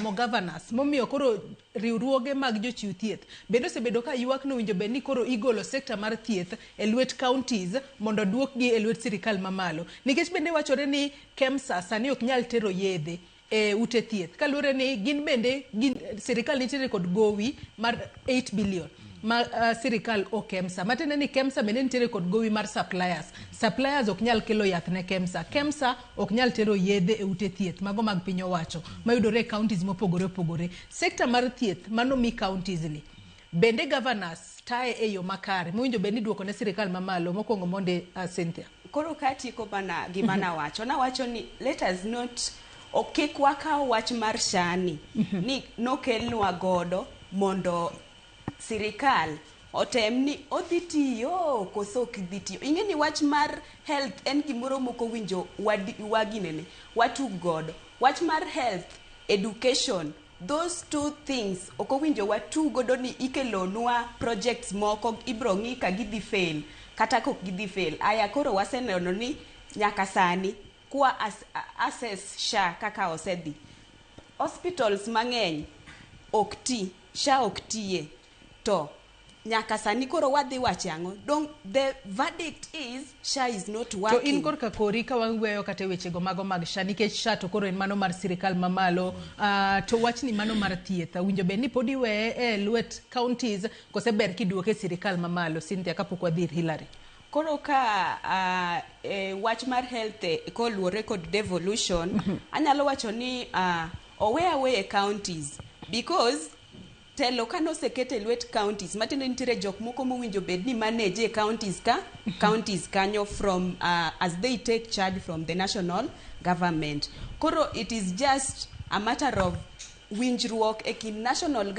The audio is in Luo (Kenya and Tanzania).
mo governors momiyo koro riwruoge mag jochiw thieth bende osebedo ka ywak ni owinjo bed ni koro igolo sekta mar thieth e lwet counties mondo oduokgi e lwet sirikal mamalo nikech bende wachore ni KEMSA sani ok nyal tero yedhe e ute thieth kaluwore ni gin bende gin, sirikal nitiere kod gowi mar 8 billion ma uh, sirikal o KEMSA matiende ni KEMSA bende nitiere kod gowi mar suppliers suppliers ok nyal kelo yath ne KEMSA KEMSA ok nyal tero yedhe e ute thieth mago mag piny owacho mayudore e counties mopogore opogore. Sector mar thieth mano mi counties ni bende governors taye e yo makare mowinjo bed ni duoko ne sirikal mamalo mokwongo monde uh, Cynthia. Koro katieko bana gima mhm. nawacho nawacho ni let us not ok kik wakaw wach mar shani mhm. ni nokelnwa godo mondo sirikal otem ni odhi tiyo koso ok dhi tiyo. Ing'e ni wach mar health en gimoro mok owinjo waginene, watug godo. Wach mar health, education, those two things ok owinjo watug godo ni ikelonwa projects moko ibiro ng'i ka gidhi fail kata kok gidhi fail. Aya koro waseneno ni nyaka sani kwa assess SHA kaka osedhi, hospitals mang'eny ok ti. Sha ok tiye. To nyaka sani koro wadhi wache ang'o? Dong the verdict is Sha is not To in working. korka kori ka waweyo kata e wechego mago mag sha nikech sha to koro en mano mar sirikal mamalo Ah, to wachni mano mar thieth winjo bed ni pod iweye e lwet counties kose ber kiduoke e sirikal mamalo Cynthia kapok wadhi ir Hillary Koro ka uh, e, wach mar health e, koluwore kod devolution mm -hmm. anyalo wacho ni uh, owe aweye counties because telo ka noseket e lwet counties matiende nitiere jok moko mowinjo bed ni manage e counties ka mhm. counties kanyo from uh, as they take charge from the national government koro it is just a matter of winjruok e kind national government